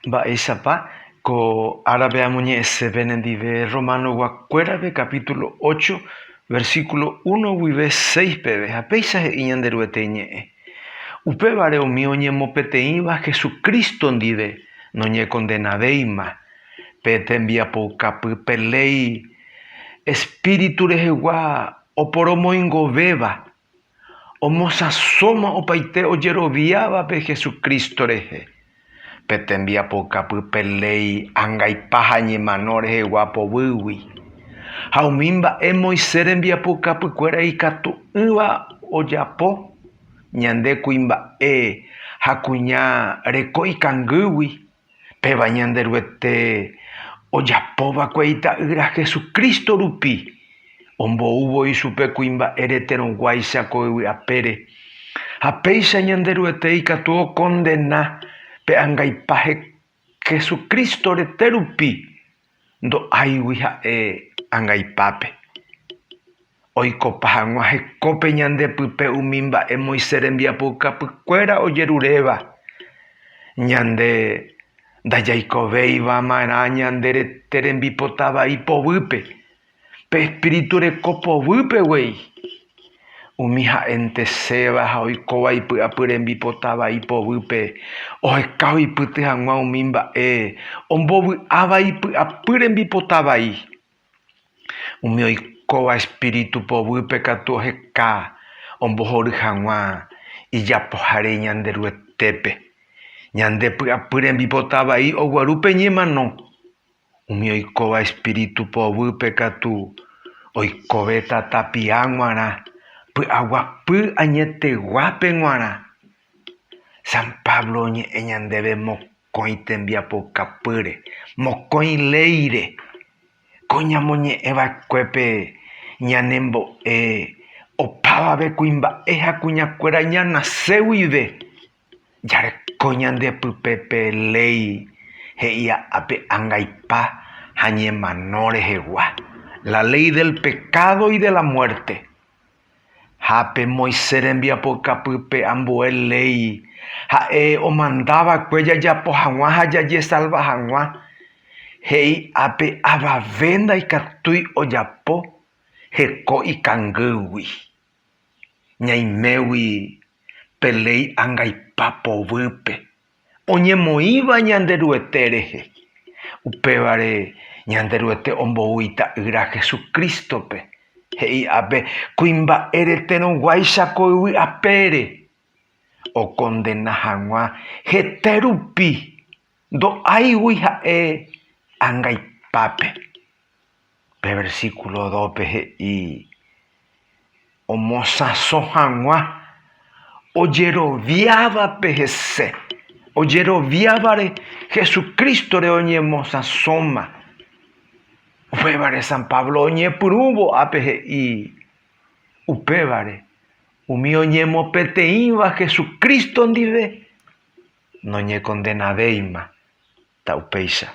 Mba'éichapa ko árape amoñe'ẽse penendive Romanoguakuérape capítulo ocho, versículo uno guive seis peve, ha péicha he'i Ñanderuete ñe'ẽ. Upévare umi oñemopeteĩva Hesu Crísto ndive noñekondenavéima pe tembiapoukapy pe léi espíritu rehegua oporomoingovéva Omosãsóma opaite ojeroviávape Jesucristo rehe, pe tembiapokapy pe léi angaipa ha ñemano rehegua poguýgui. Ha umi mba'e Moisés rembiapokapykuéra ikatu'ỹva ojapo ñande kuimba'e ha kuña reko ikangýgui. Péva Ñanderuete ojapo va'ekue Ita'ýra Jesucristo rupi, ombou voi chupe kuimba'e reterõguáicha ko yvy apére. Ha péicha Ñanderuete ikatu okondena pe angaipa Jesucristo rete rupi ndo'áigui ha'e angaipápe. Oikopa hag̃ua hekópe ñande pype umi mba'e Moisés rembiapoukapykuéra ojeruréva. Ñande ndajaikovéiva'erã ñande rete rembipota vai poguýpe. Pe espíritu reko povýpe guei, umi ha'enteséva ha oikóva ipy'apy rembipota vai povýpe, oheka oipyty hag̃ua umi mba'e ombovy'áva ipy'apy rembipota vai. Umi oikóva espíritu povýpe katu oheka ombohory hag̃ua ijapohare Ñanderuetépe, ñande py'apy rembipota vai oguaru pe ñemano. Umi oikóva espíritu poguýpe katu oikovéta tapia g̃uarã py'aguapy añeteguápe g̃uarã. San Pablo oñe'ẽ ñandéve mokõi tembiapokapýre, mokõi léire. Ko ñamoñe'ẽ va'ekuépe ñanembo'e opavave kuimba'e ha kuñakuéra ñanase guive. Jareko ñande pype pe léi he'ia ápe angaipa ha ñemano rehegua, la léi del pekádo y de la muerte. Ha pe Moisés rembiapokapýpe ambue léi ha'e omanda va'ekue jajapo hag̃ua ha jajesalva hag̃ua, he'i ápe avave ndaikatúi ojapo heko ikangýgui. ñaimégui pe léi angaipa povýpe oñemoĩva Ñanderuete rehe. Upévare Ñanderuete ombou Ita'ýra Jesucrístope, he'i'ápe kuimba'e reterõguáicha ko yvy apére, okondena hag̃ua hete rupi ndo'áigui ha'e angaipápe. Pe versículo dópe he'i omosãso hag̃ua ojeroviávape hese. Ojeroviávare Jesucrístore oñemosãsóma. Upévare San Pablo oñepyrũvo ápe he'i upévare, umi oñemopeteĩva Jesucristo ndive noñekondenavéima ta upéicha.